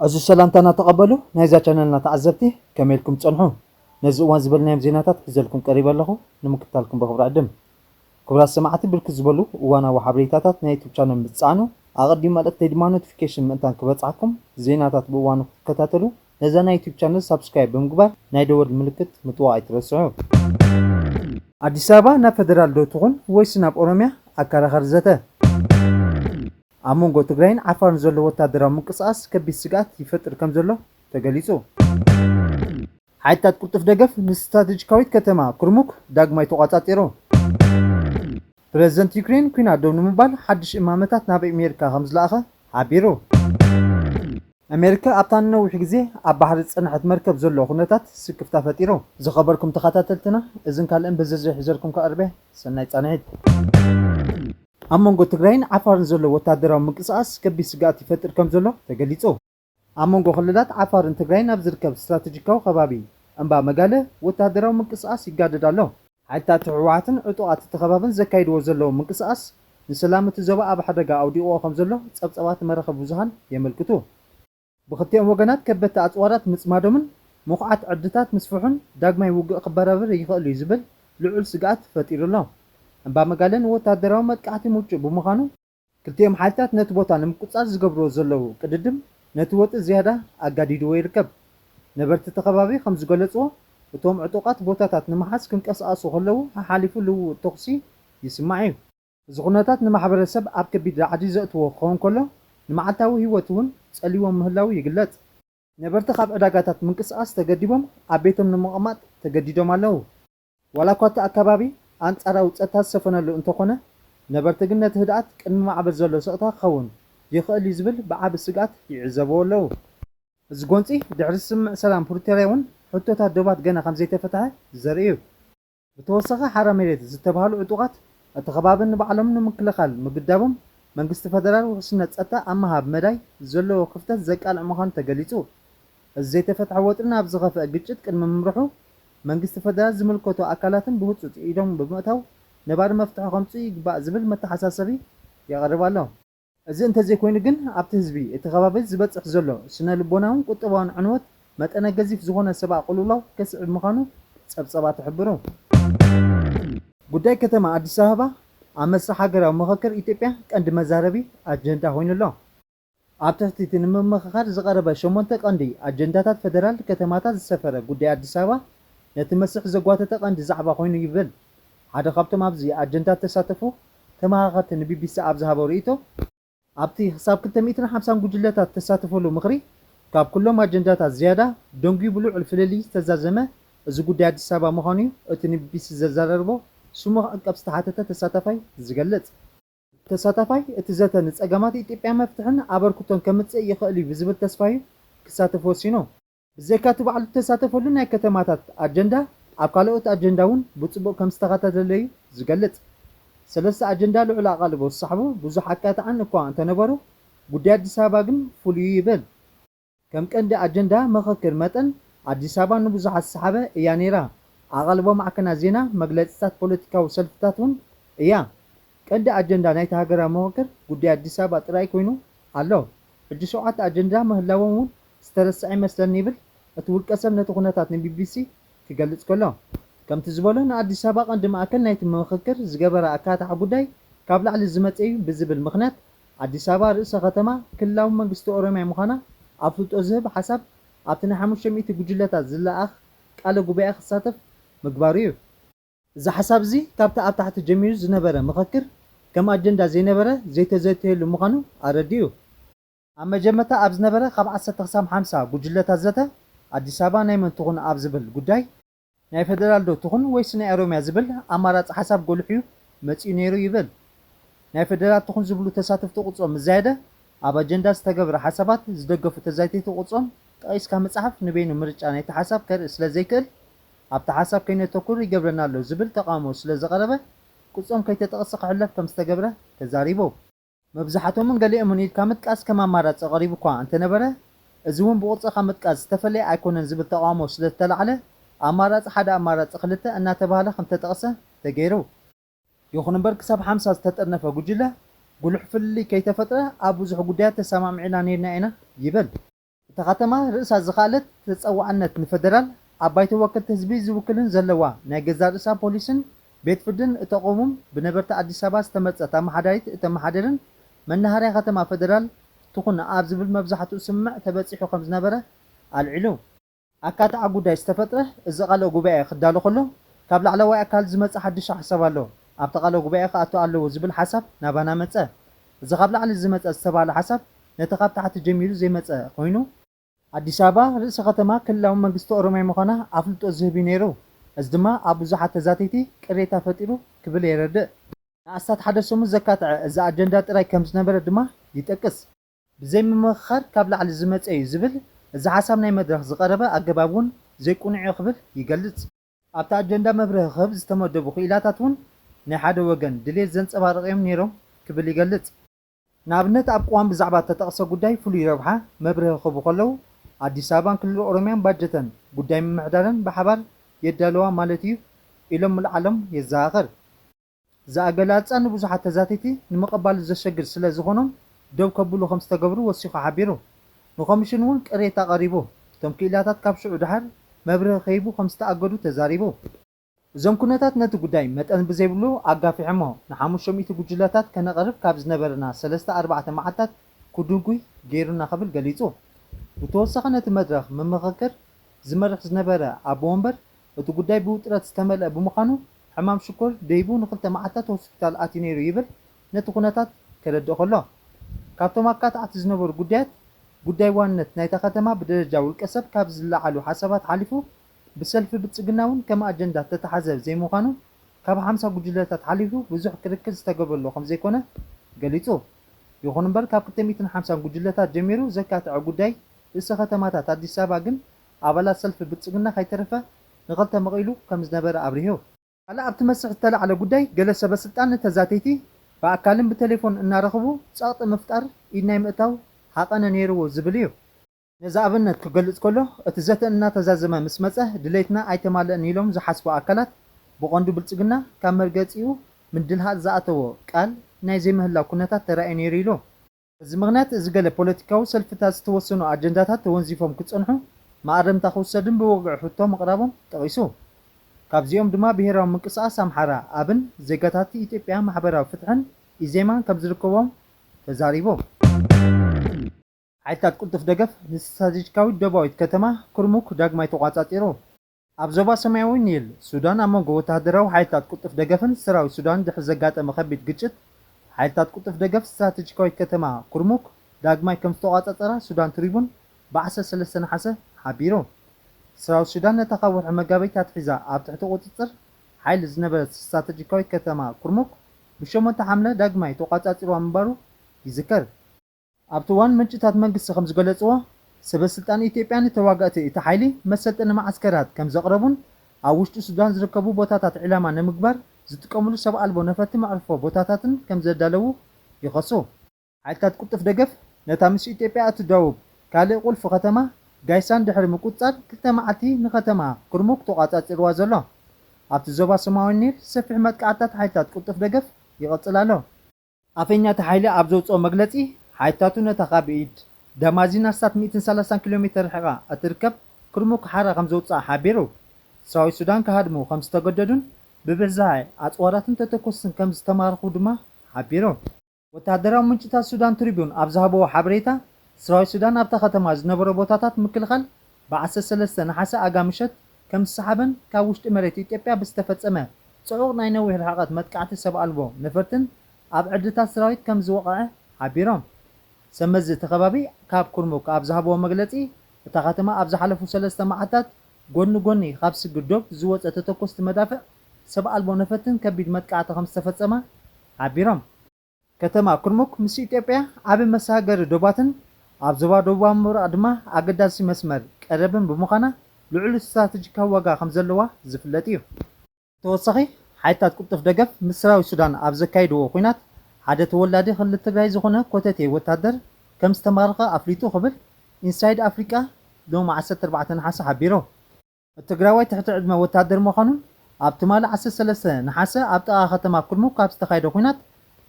ዕዙዝ ሰላምታና ተቐበሉ ናይዛ ቻነልና ተዓዘብቲ ከመይ ኢልኩም ትጸንሑ? ነዚ እዋን ዝበልናዮም ዜናታት ሒዘልኩም ቀሪበ ኣለኹ ንምክትታልኩም ብኽብሪ ዕድም። ክቡራት ሰማዕቲ ብርክት ዝበሉ እዋናዊ ሓበሬታታት ናይ ዩቱብ ቻነል ምስ ትጻዕኑ ኣቐዲም መልእኽተይ ድማ ኖቲፊኬሽን ምእንታን ክበጽሓኩም ዜናታት ብእዋኑ ክትከታተሉ ነዛ ናይ ዩቱብ ቻነል ሳብስክራይብ ብምግባር ናይ ደወል ምልክት ምጥዋቅ ኣይትረስዑ። ኣዲስ ኣበባ ናብ ፈደራል ዶ ትኹን ወይስ ናብ ኦሮሚያ? ኣከራኻሪ ዘተ። ኣብ መንጎ ትግራይን ዓፋርን ዘሎ ወታደራዊ ምንቅስቓስ ከቢድ ስግኣት ይፈጥር ከምዘሎ ተገሊጹ። ሓይልታት ቅልጡፍ ደገፍ ንስትራተጂካዊት ከተማ ኩርሙክ ዳግማይ ተቖጻጺሩ። ፕረዚደንት ዩክሬን ኲናት ደው ንምባል ሓድሽ እማመታት ናብ ኣሜሪካ ከም ዝለኣኸ ሓቢሩ። ኣሜሪካ ኣብታ ንነዊሕ ግዜ ኣብ ባሕሪ ዝጸንሐት መርከብ ዘሎ ኩነታት ስክፍታ ፈጢሩ። ዝኸበርኩም ተኸታተልትና እዝን ካልእን ብዝርዝር ሒዘልኩም ክቐርብ እየ። ሰናይ ጻንሒት። ኣብ መንጎ ትግራይን ዓፋርን ዘሎ ወተሃደራዊ ምንቅስቓስ ከቢድ ስግኣት ይፈጥር ከም ዘሎ ተገሊጹ። ኣብ መንጎ ክልላት ዓፋርን ትግራይን ኣብ ዝርከብ ስትራተጂካዊ ከባቢ እምባ መጋልህ ወተሃደራዊ ምንቅስቓስ ይጋደድ ኣሎ። ሓይልታት ህወሓትን ዕጡቓት እቲ ከባብን ዘካይድዎ ዘለዉ ምንቅስቓስ ንሰላም እቲ ዞባ ኣብ ሓደጋ ኣውዲቕዎ ከምዘሎ ጸብጻባት መራኸቢ ብዙሃን የመልክቱ። ብኽልቲኦም ወገናት ከበድቲ ኣጽዋራት ምጽማዶምን ምኹዓት ዕርድታት ምስፍሑን ዳግማይ ውግእ ክበራበር ይኽእል እዩ ዝብል ልዑል ስግኣት ፈጢሩ ኣሎ። እምባ መጋልህ ንወተሃደራዊ መጥቃዕቲ ምቹእ ብምዃኑ፣ ክልቲኦም ሓይልታት ነቲ ቦታ ንምቁጽጻር ዝገብርዎ ዘለዉ ቅድድም ነቲ ወጥሪ ዝያዳ ኣጋዲድዎ ይርከብ። ነበርቲ እቲ ከባቢ ከም ዝገለጽዎ፣ እቶም ዕጡቓት ቦታታት ንምሓዝ ክንቀሳቐሱ ከለዉ ሓሓሊፉ ልውውጥ ተዅሲ ይስማዕ እዩ። እዚ ኵነታት ንማሕበረሰብ ኣብ ከቢድ ራዕዲ ዘእትዎ ክኸውን ከሎ፣ ንመዓልታዊ ህይወት እውን ጸልይዎ ምህላዉ ይግለጽ። ነበርቲ ካብ ዕዳጋታት ምንቅስቓስ ተገዲቦም ኣብ ቤቶም ንምቕማጥ ተገዲዶም ኣለዉ። ዋላ እኳ እቲ ኣከባቢ ኣንጻራዊ ጸጥታ ዝሰፈነሉ እንተኾነ፣ ነበርቲ ግን ነቲ ህድኣት ቅድሚ ማዕበል ዘሎ ስቕታ ክኸውን ይኽእል እዩ ዝብል ብዓቢ ስግኣት ይዕዘብዎ ኣለዉ። እዚ ጎንጺ ድሕሪ ስምምዕ ሰላም ፕሪቶርያ እውን ሕቶታት ዶባት ገና ከምዘይተፈትሐ ዘርኢ እዩ። ብተወሳኺ ሓራ መሬት ዝተብሃሉ ዕጡቓት እቲ ከባቢ ንባዕሎም ንምክልኻል ምግዳቦም መንግስቲ ፈደራል ውሕስነት ጸጥታ ኣብ ምሃብ መዳይ ዘለዎ ክፍተት ዘቃልዕ ምዃኑ ተገሊጹ። እዚ ዘይተፈትሐ ወጥሪ ናብ ዝኸፍኣ ግጭት ቅድሚ ምምርሑ፣ መንግስቲ ፈደራል ዝምልከቶ ኣካላትን ብህፁፅ ኢዶም ብምእታው ነባሪ መፍትሒ ከምፅኡ ይግባእ ዝብል መተሓሳሰቢ የቕርብ ኣሎ። እዚ እንተዘይኮይኑ ግን ኣብቲ ህዝቢ እቲ ከባቢ ዝበፅሕ ዘሎ ስነ ልቦናውን ቁጠባውን ዕንወት መጠነ ገዚፍ ዝኾነ ሰብኣ ቅልውላው ከስዕብ ምዃኑ ፀብፀባት ይሕብሩ። ጉዳይ ከተማ ኣዲስ ኣበባ ኣብ መስርሕ ሃገራዊ ምኽክር ኢትዮጵያ ቀንዲ መዛረቢ ኣጀንዳ ኮይኑ ኣሎ። ኣብ ትሕቲ እቲ ንምምኽኻር ዝቐረበ ሸሞንተ ቀንዲ ኣጀንዳታት ፈደራል ከተማታት ዝሰፈረ ጉዳይ ኣዲስ ኣበባ ነቲ መስርሕ ዘጓተተ ቀንዲ ዛዕባ ኮይኑ ይብል ሓደ ካብቶም ኣብዚ ኣጀንዳ ዝተሳተፉ ተመኻኸርቲ ንቢቢሲ ኣብ ዝሃቦ ርእይቶ። ኣብቲ ክሳብ ክልተ ሚእትን ሓምሳን ጉጅለታት ዝተሳተፈሉ ምኽሪ ካብ ኩሎም ኣጀንዳታት ዝያዳ ደንጉዩ ብልዑል ፍልልይ ዝተዛዘመ እዚ ጉዳይ ኣዲስ ኣበባ ምዃኑ'ዩ እቲ ንቢቢሲ ዘዘራረቦ ስሙ ክዕቀብ ዝተሓተተ ተሳታፋይ ዝገልጽ። ተሳታፋይ እቲ ዘተ ንፀገማት ኢትዮጵያ መፍትሕን ኣበርክቶን ከምፅእ ይኽእል እዩ ብዝብል ተስፋ እዩ ክሳተፍ ወሲኑ። ብዘይካ እቲ ባዕሉ ዝተሳተፈሉ ናይ ከተማታት ኣጀንዳ ኣብ ካልኦት ኣጀንዳ እውን ብፅቡቕ ከምዝተኸታተለ እዩ ዝገልፅ። ሰለስተ ኣጀንዳ ልዑል ኣቓልቦ ዝሰሓቡ ብዙሕ ኣካታዕን እኳ እንተነበሩ ጉዳይ ኣዲስ ኣበባ ግን ፍሉይ እዩ ይብል። ከም ቀንዲ ኣጀንዳ ምኽክር መጠን ኣዲስ ኣበባ ንብዙሓት ዝሰሓበ እያ ነይራ። ኣቓልቦ ማዕከናት ዜና፣ መግለጺታት ፖለቲካዊ ሰልፍታት እውን እያ። ቀንዲ ኣጀንዳ ናይቲ ሃገራዊ ምኽክር ጉዳይ ኣዲስ ኣበባ ጥራይ ኮይኑ ኣሎ። ሕጂ ሸውዓተ ኣጀንዳ ምህላዎም እውን ዝተረስዐ ይመስለኒ ይብል እቲ ውልቀሰብ ነቲ ኩነታት ንቢቢሲ ክገልጽ ከሎ። ከምቲ ዝበሎ ንኣዲስ ኣበባ ቀንዲ ማእከል ናይቲ ምኽክር ዝገበራ ኣካታዒ ጉዳይ ካብ ላዕሊ ዝመጸ እዩ ብዝብል ምኽንያት ኣዲስ ኣበባ ርእሰ ከተማ ክልላዊ መንግስቲ ኦሮሚያ ምዃና ኣፍልጦ ዝህብ ሓሳብ ኣብቲ ናይ ሓሙሽተ ሚእቲ ጉጅለታት ዝለኣኽ ቃለ ጉባኤ ክሳተፍ ምግባሩ እዩ። እዚ ሓሳብ እዚ ካብቲ ኣብ ታሕቲ ጀሚሩ ዝነበረ ምኽክር ከም ኣጀንዳ ዘይነበረ ዘይተዘተየሉ ምዃኑ ኣረዲኡ። ኣብ መጀመርታ ኣብ ዝነበረ ካብ ዓሰርተ ክሳብ ሓምሳ ጉጅለታት ዘተ ኣዲስ ኣበባ ናይ መን ትኹን ኣብ ዝብል ጉዳይ፣ ናይ ፈደራል ዶ ትኹን ወይስ ናይ ኦሮሚያ ዝብል ኣማራጺ ሓሳብ ጎሊሑ'ዩ መጺኡ ነይሩ ይብል። ናይ ፈደራል ትኹን ዝብሉ ተሳተፍቲ ቁጽሮም ምስ ዛየደ፣ ኣብ ኣጀንዳ ዝተገብረ ሓሳባት ዝደገፉ ተዛይተይቲ ቁጽሮም ጠቒስካ ምጽሓፍ ንበይኑ ምርጫ ናይቲ ሓሳብ ከርኢ ስለ ዘይክእል ኣብቲ ሓሳብ ከይነተኩር ይገብረና'ሎ ዝብል ተቓውሞ ስለ ዝቐረበ ቁጽሮም ከይተጠቕሰ ክሕለፍ ከም ዝተገብረ ተዛሪቦም። መብዛሕቶምን ገሊኦምን ኢልካ ምጥቃስ ከም ኣማራጺ ቀሪቡ'ኳ እንተነበረ፣ እዚ'ውን ብቑርጺ ካብ ምጥቃስ ዝተፈለየ ኣይኮነን ዝብል ተቓውሞ ስለዝተላዕለ፣ ኣማራጺ ሓደ ኣማራጺ ክልተ እናተባህለ ከምዝተጠቕሰ ተገይሩ። ይኹን'ምበር ክሳብ ሓምሳ ዝተጠርነፈ ጉጅለ፣ ጉሉሕ ፍልልይ ከይተፈጥረ ኣብ ብዙሕ ጉዳያት ተሰማሚዕና ነይርና ኢና ይብል። እታ ከተማ ርእሳ ዝኸኣለት ተጸዋዕነት ንፈደራል ኣብ ባይቶ ወከልቲ ህዝቢ ዝውክልን ዘለዋ ናይ ገዛእ ርእሳ ፖሊስን ቤት ፍርድን እተቕውም ብነበርቲ ኣዲስ ኣበባ ዝተመርጸት ኣመሓዳሪት እተመሓድርን መናሃርያ ከተማ ፈደራል ትኹን ኣብ ዝብል መብዛሕትኡ ስምምዕ ተበጺሑ ከምዝነበረ ኣልዒሉ። ኣካታዒ ጉዳይ ዝተፈጥረ እዚ ቃለ ጉባኤ ክዳሎ ከሎ ካብ ላዕለዋይ ኣካል ዝመጸ ሓድሽ ሓሳብ ኣሎ ኣብቲ ቃለ ጉባኤ ክኣቱ ኣለዎ ዝብል ሓሳብ ናባና መጸ እዚ ካብ ላዕሊ ዝመጸ ዝተባህለ ሓሳብ ነቲ ካብ ታሕቲ ጀሚሩ ዘይመጸ ኮይኑ ኣዲስ ኣበባ ርእሰ ከተማ ክልላዊ መንግስቲ ኦሮሚያ ምዃና ኣፍልጦ ዝህብ እዩ ነይሩ እዚ ድማ ኣብ ብዙሓት ተዛተይቲ ቅሬታ ፈጢሩ ክብል የረድእ። ንኣስታት ሓደ ሰሙን ዘካተዐ እዚ ኣጀንዳ ጥራይ ከምዝነበረ ድማ ይጠቅስ። ብዘይ ምምኽኻር ካብ ላዕሊ ዝመፀ ዩ ዝብል እዚ ሓሳብ ናይ መድረኽ ዝቐረበ ኣገባብ ውን ዘይቁኑዕ ዩ ክብል ይገልፅ። ኣብቲ ኣጀንዳ መብርሂ ክህብ ዝተመደቡ ክኢላታት ውን ናይ ሓደ ወገን ድልየት ዘንፀባርቕ ዮም ነይሮም ክብል ይገልፅ። ንኣብነት ኣብ ቅዋም ብዛዕባ እተጠቕሰ ጉዳይ ፍሉይ ረብሓ መብርሂ ክህቡ ከለው ኣዲስ ኣበባን ክልል ኦሮሚያን ባጀተን ጉዳይ ምምሕዳረን ብሓባር የዳልዋ ማለት ዩ ኢሎም ምልዓሎም የዘኻኽር። እዚ ኣገላልፃ ንብዙሓት ተዛተይቲ ንምቐባሉ ዘሸግር ስለ ዝኾኖም ደው ከብሉ ከም ዝተገብሩ ወሲኹ ሓቢሩ። ንኮምሽን እውን ቅሬታ ቀሪቡ። እቶም ክኢላታት ካብ ሽዑ ደሓር መብርሂ ከይህቡ ከም ዝተኣገዱ ተዛሪቡ። እዞም ኩነታት ነቲ ጉዳይ መጠን ብዘይብሉ ኣጋፊሖሞ። ንሓሙሽተ ሚእቲ ጉጅለታት ከነቐርብ ካብ ዝነበረና ሰለስተ ኣርባዕተ መዓልታት ክድጉይ ገይሩና ክብል ገሊፁ። ብተወሳኺ ነቲ መድረኽ ምምኽክር ዝመርሕ ዝነበረ ኣቦ ወንበር እቲ ጉዳይ ብውጥረት ዝተመልአ ብምዃኑ ሕማም ሽኮር ደይቡ ንኽልተ መዓልታት ሆስፒታል ኣትዩ ነይሩ ይብል ነቲ ኩነታት ከረድእ ከሎ። ካብቶም ኣካታዕቲ ዝነበሩ ጉዳያት ጉዳይ ዋንነት ናይታ ከተማ ብደረጃ ውልቀሰብ ካብ ዝለዓሉ ሓሳባት ሓሊፉ ብሰልፊ ብልጽግና እውን ከም ኣጀንዳ እተታሕዘ ዘይምዃኑ ካብ ሓምሳ ጉጅለታት ሓሊፉ ብዙሕ ክርክር ዝተገብረሉ ከምዘይኮነ ገሊጹ። ይኹን'ምበር ካብ ክልተ ሚእትን ሓምሳን ጉጅለታት ጀሚሩ ዘካትዐ ጉዳይ ርእሰ ከተማታት ኣዲስ ኣበባ ግን ኣባላት ሰልፊ ብልጽግና ከይተረፈ ንኸልተ መቒሉ ከም ዝነበረ ኣብሪሁ። ካልእ ኣብቲ መስርሕ ዝተላዕለ ጉዳይ ገለ ሰበስልጣን ንተዛተይቲ ብኣካልን ብተሌፎን እናረኸቡ ጸቕጢ ምፍጣር ኢድ ናይ ምእታው ሃቐነ ነይርዎ ዝብል እዩ። ነዚ ኣብነት ክገልጽ ከሎ እቲ ዘተ እናተዛዘመ ምስ መጸ ድሌትና ኣይተማልእን ኢሎም ዝሓስቡ ኣካላት ብቐንዱ ብልጽግና ካብ መርገጺኡ ምድልሃእ ዝኣተዎ ቃል ናይ ዘይምህላው ኩነታት ተራእዩ ነይሩ ኢሉ። በዚ ምኽንያት እዚ ገለ ፖለቲካዊ ሰልፍታት ዝተወሰኑ ኣጀንዳታት ተወንዚፎም ክጸንሑ መኣረምታ ክውሰድን ብወግዒ ሕቶ ምቕራቦም ጠቒሱ። ካብዚኦም ድማ ብሄራዊ ምንቅስቓስ ኣምሓራ፣ ኣብን፣ ዜጋታት ኢትዮጵያ ማሕበራዊ ፍትሕን፣ ኢዜማ፣ ከምዝርከቡዎም ተዛሪቡ። ሓይልታት ቅልጡፍ ደገፍ ንስትራቴጂካዊት ደቡባዊት ከተማ ኩርሙክ ዳግማይ ተቖጻጺሩ። ኣብ ዞባ ሰማያዊ ኒል ሱዳን ኣብ መንጎ ወተሃደራዊ ሓይልታት ቅልጡፍ ደገፍን ሰራዊት ሱዳንን ድሕሪ ዘጋጠመ ከቢድ ግጭት፣ ሓይልታት ቅልጡፍ ደገፍ ስትራተጂካዊት ከተማ ኩርሙክ ዳግማይ ከምዝተቖጻጸራ ሱዳን ትሪቡን ብዓሰርተ ሰለስተ ነሓሰ ሓቢሩ። ሰራዊት ሱዳን ነታ ካብ ወርሒ መጋቢት ኣትሒዛ ኣብ ትሕቲ ቁጽጽር ሓይሊ ዝነበረት ስትራተጂካዊት ከተማ ኩርሙክ ብሸሞንተ ሓምለ ዳግማይ ተቖጻጺርዋ ምንባሩ ይዝከር። ኣብቲ እዋን ምንጭታት መንግስቲ ከምዝገለፅዎ፣ ሰበስልጣን ኢትዮጵያ ንተዋጋእቲ እቲ ሓይሊ መሰልጠኒ መዓስከራት ከምዘቕረቡን ኣብ ውሽጢ ሱዳን ዝርከቡ ቦታታት ዒላማ ንምግባር ዝጥቀምሉ ሰብ ኣልቦ ነፈርቲ መዕርፎ ቦታታትን ከምዘዳለዉ ይኸሱ። ሓይልታት ቅልጡፍ ደገፍ ነታ ምስ ኢትዮጵያ እትዳወብ ካልእ ቁልፊ ከተማ ጋይሳን ድሕሪ ምቁፅፃር ክልተ መዓልቲ ንከተማ ኩርሙክ ተቖፃፂርዋ ዘሎ ኣብቲ ዞባ ሰማያዊ ኒል ሰፊሕ መጥቃዕትታት ሓይልታት ቅልጡፍ ደገፍ ይቕፅል ኣሎ። ኣፈኛ እቲ ሓይሊ ኣብ ዘውጽኦ መግለጺ፣ ሓይልታቱ ነታ ካብ ኢድ ደማዚን ኣስታት ሚእትን ሰላሳን ኪሎ ሜተር ርሒቓ እትርከብ ኩርሙክ ሓራ ከም ዘውጽኣ ሓቢሩ። ሰራዊት ሱዳን ክሃድሙ ከም ዝተገደዱን ብብዝሒ ኣጽዋራትን ተተኮስትን ከም ዝተማረኹ ድማ ሓቢሩ። ወተሃደራዊ ምንጭታት ሱዳን ትሪቡን ኣብ ዝሃብዎ ሓበሬታ፣ ሰራዊት ሱዳን ኣብታ ከተማ ዝነበሮ ቦታታት ምክልኻል ብ ዓሰርተ ሰለስተ ነሓሰ ኣጋ ምሸት ከም ዝሰሓበን ካብ ውሽጢ መሬት ኢትዮጵያ ብዝተፈጸመ ጽዑቕ ናይ ነዊሕ ርሕቐት መጥቃዕቲ ሰብ ኣልቦ ነፈርትን ኣብ ዕርድታት ሰራዊት ከም ዝወቐዐ ሓቢሮም። ሰብ መዚ እቲ ከባቢ ካብ ኩርሙክ ኣብ ዝሃብዎ መግለጺ እታ ከተማ ኣብ ዝሓለፉ ሰለስተ መዓልታት ጎድኒ ጎኒ ካብ ስግር ዶብ ዝወጸ ተተኮስቲ መዳፍዕ ሰብ ኣልቦ ነፈርትን ከቢድ መጥቃዕቲ ከም ዝተፈጸመ ሓቢሮም። ከተማ ኩርሙክ ምስ ኢትዮጵያ ዓቢ መሰጋገሪ ዶባትን ኣብ ዞባ ደቡባዊ ምብራቕ ድማ ኣገዳሲ መስመር ቀረብን ብምዃና ልዑል ስትራተጂካዊ ዋጋ ከምዘለዋ ዝፍለጥ እዩ። ብተወሳኺ ሓይልታት ቅልጡፍ ደገፍ ምስ ሰራዊት ሱዳን ኣብ ዘካይድዎ ኵናት ሓደ ተወላዲ ክልል ትግራይ ዝዀነ ኮተቴ ወታደር ከም ዝተማረኸ ኣፍሊጡ ክብል ኢንሳይድ ኣፍሪቃ ሎሚ ዓሰርተ ኣርባዕተ ነሓሰ ሓቢሩ። እቲ ትግራዋይ ትሕቲ ዕድመ ወታደር ምዃኑን ኣብ ትማሊ ዓሰርተ ሰለስተ ነሓሰ ኣብ ጥቓ ከተማ ኩርሙክ ኣብ ዝተኻየደ ኲናት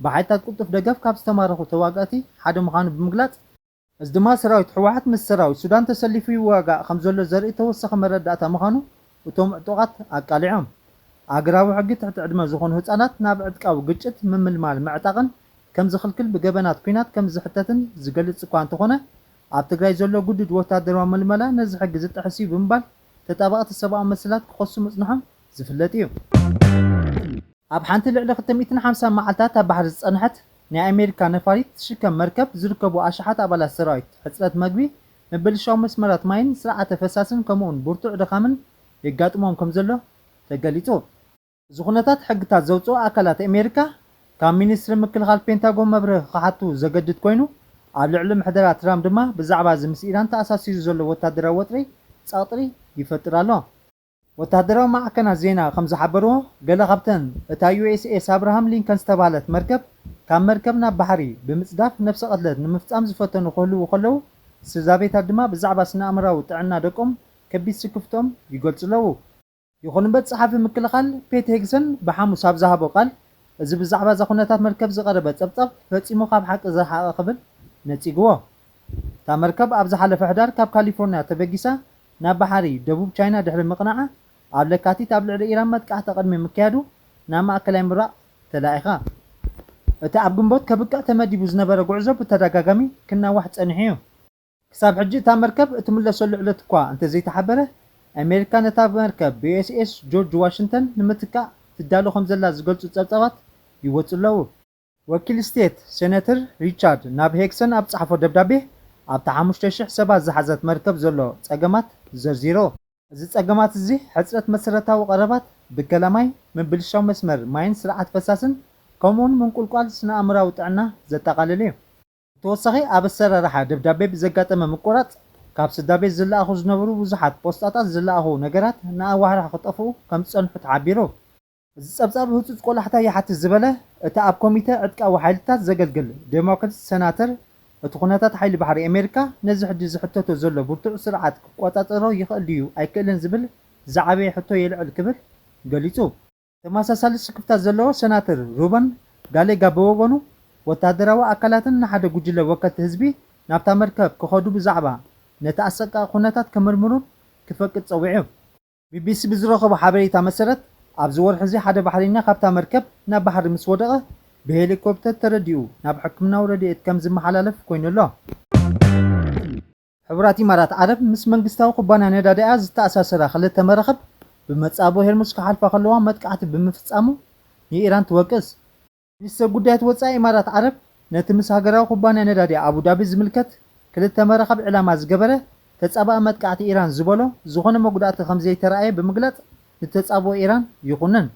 ብሓይልታት ቅልጡፍ ደገፍ ካብ ዝተማረኹ ተዋጋእቲ ሓደ ምዃኑ ብምግላፅ፣ እዚ ድማ ሰራዊት ህወሓት ምስ ሰራዊት ሱዳን ተሰሊፉ ይዋጋእ ከምዘሎ ዘርኢ ተወሳኺ መረዳእታ ምዃኑ እቶም ዕጡቓት ኣቃሊዖም። ኣህግራዊ ሕጊ ትሕቲ ዕድመ ዝኾኑ ህፃናት ናብ ዕጥቃዊ ግጭት ምምልማልን ምዕጣቕን ከምዝኽልክል ብገበናት ኲናት ከምዝሕተትን ዝገልፅ እኳ እንተኾነ ኣብ ትግራይ ዘሎ ግዱድ ወታደራዊ ምልመላ ነዚ ሕጊ ዝጥሕስ'ዩ ብምባል ተጣበቕቲ ሰብኣዊ መሰላት ክኸሱ ምጽንሖም ዝፍለጥ'ዩ። ኣብ ሓንቲ ልዕሊ ክልተ ሚእትን ሓምሳን መዓልታት ኣብ ባሕሪ ዝጸንሐት ናይ ኣሜሪካ ነፋሪት ትሽከም መርከብ ዝርከቡ ኣሽሓት ኣባላት ሰራዊት፣ ሕጽረት መግቢ፣ ምብልሻው መስመራት ማይን ስርዓተ ፈሳስን ከምኡ'ውን ብርቱዕ ድኻምን የጋጥሞም ከምዘሎ ተገሊጹ። እዚ ኩነታት ሕግታት ዘውጽኡ ኣካላት ኣሜሪካ ካብ ሚኒስትሪ ምክልኻል ፔንታጎን መብርሂ ክሓቱ ዘገድድ ኮይኑ፣ ኣብ ልዕሊ ምሕደራ ትራምፕ ድማ ብዛዕባ እዚ ምስ ኢራን ተኣሳሲሩ ዘሎ ወታደራዊ ወጥሪ ጸቕጥሪ ይፈጥር ኣሎ። ወተሃደራዊ ማዕከናት ዜና ከም ዝሓበርዎ፣ ገለ ካብተን እታ ዩኤስኤስ ኣብርሃም ሊንከን ዝተባህለት መርከብ ካብ መርከብ ናብ ባሕሪ ብምጽዳፍ ነብሰ ቅትለት ንምፍጻም ዝፈተኑ ክህልዉ ከለዉ፣ ስድራቤታት ድማ ብዛዕባ ስነ-ኣእምሮኣዊ ጥዕና ደቆም ከቢድ ስክፍትኦም ይገልጹ ኣለዉ። ይኹን እምበር ጸሓፊ ምክልኻል ፔት ሄግሰን ብሓሙስ ኣብ ዝሃቦ ቃል፣ እዚ ብዛዕባ እዛ ኩነታት መርከብ ዝቐረበ ጸብጻብ ፈጺሙ ካብ ሓቂ ዝረሓቐ ክብል ነጺግዎ። እታ መርከብ ኣብ ዝሓለፈ ሕዳር ካብ ካሊፎርንያ ተበጊሳ ናብ ባሕሪ ደቡብ ቻይና ድሕሪ ምቕናዓ፣ ኣብ ለካቲት ኣብ ልዕሊ ኢራን መጥቃዕቲ ቅድሚ ምክያዱ ናብ ማእከላይ ምብራቕ ተላኢኻ። እቲ ኣብ ግንቦት ከብቅዕ ተመዲቡ ዝነበረ ጉዕዞ ብተደጋጋሚ ክናዋሕ ጸኒሑ'ዩ። ክሳብ ሕጂ እታ መርከብ እትምለሰሉ ዕለት እኳ እንተዘይተሓበረ፣ ኣሜሪካ ነታ መርከብ ብዩኤስኤስ ጆርጅ ዋሽንተን ንምትካእ ትዳሎ ከምዘላ ዝገልጹ ጸብጻባት ይወጹ ኣለዉ። ወኪል ስቴት ሴነትር ሪቻርድ ናብ ሄግሰን ኣብ ዝጸሓፎ ደብዳቤ፣ ኣብታ ሓሙሽተ ሽሕ ሰባት ዝሓዘት መርከብ ዘሎ ጸገማት ዘርዚሩ። እዚ ጸገማት እዚ ሕጽረት መሰረታዊ ቀረባት፣ ብከላ ማይ፣ ምብልሻው መስመር ማይን ስርዓት ፈሳስን፣ ከምኡ'ውን ምንቁልቋል ስነ-ኣእምሮኣዊ ጥዕና ዘጠቓልል እዩ። ብተወሳኺ ኣብ ኣሰራርሓ ደብዳቤ ብዘጋጠመ ምቁራጽ ካብ ስድራቤት ዝለኣኹ ዝነበሩ ብዙሓት ፖስጣታት ዝለኣኹ ነገራት ንኣዋርሕ ክጠፍኡ ከምዝጸንሑ ተሓቢሩ። እዚ ጸብጻብ ህጹጽ ቆላሕታ ይሓትት ዝበለ እቲ ኣብ ኮሚተ ዕጥቃዊ ሓይልታት ዘገልግል ዴሞክርት ሰናተር እቲ ኩነታት ሓይሊ ባሕሪ ኣሜሪካ ነዚ ሕጂ ዝሕተቶ ዘሎ ብርቱዕ ስርዓት ክቆጻጸሮ ይኽእል ድዩ ኣይክእልን ዝብል ዝዓበየ ሕቶ የልዕል ክብል ገሊጹ። ተመሳሳሊ ስክፍታ ዘለዎ ሰናተር ሩበን ጋሌጋ ብወገኑ፣ ወተሃደራዊ ኣካላትን ንሓደ ጉጅለ ወከልቲ ህዝቢ ናብታ መርከብ ክኸዱ ብዛዕባ ነቲ ኣሰቃቒ ኩነታት ክምርምሩን ክፈቅድ ጸዊዑ። ቢቢሲ ብዝረኸቦ ሓበሬታ መሰረት፣ ኣብዚ ወርሒ'ዚ ሓደ ባሕሬኛ ካብታ መርከብ ናብ ባሕሪ ምስ ወደቐ፣ ብሄሊኮፕተር ተረዲኡ ናብ ሕክምናዊ ረድኤት ከም ዝመሓላለፍ ኮይኑ ኣሎ። ሕቡራት ኢማራት ዓረብ ምስ መንግስታዊ ኩባንያ ነዳዲኣ ዝተኣሳሰራ ክልተ መራኽብ ብመጻብቦ ሄርሙዝ ክሓልፋ ከለዋ መጥቃዕቲ ብምፍጻሙ ንኢራን ትወቅስ። ሚኒስተር ጉዳያት ወጻኢ ኢማራት ዓረብ ነቲ ምስ ሃገራዊ ኩባንያ ነዳዲ ኣቡዳቢ ዝምልከት ክልተ መራኽብ ዕላማ ዝገበረ ተጻባኢ መጥቃዕቲ ኢራን ዝበሎ ዝኾነ መጉዳእቲ ከምዘይተራእየ ብምግላጽ ንተጻብኦ ኢራን ይኹንን።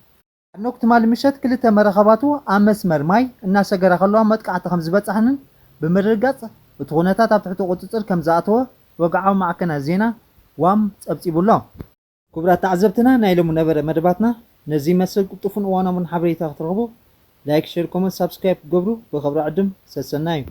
ኣኖክ ትማሊ ምሸት ክልተ መረከባቱ ኣብ መስመር ማይ እናሰገራ ከለዋ መጥቃዕቲ ከምዝበፀሐንን ብምርግጋፅ እቲ ኩነታት ኣብ ትሕቲ ቁፅፅር ከምዝኣተወ ወግዓዊ ማዕከናት ዜና ዋም ፀብፂቡ ኣሎ። ክቡራት ተዓዘብትና ናይ ሎሚ ነበረ መደባትና ነዚ ይመስል ቅልጡፍን እዋናውን ሓበሬታ ክትረኽቡ ላይክ ሸር ኮመንት ሳብስክራይብ ክትገብሩ ብኽብሪ ዕድም ሰሰናዩ።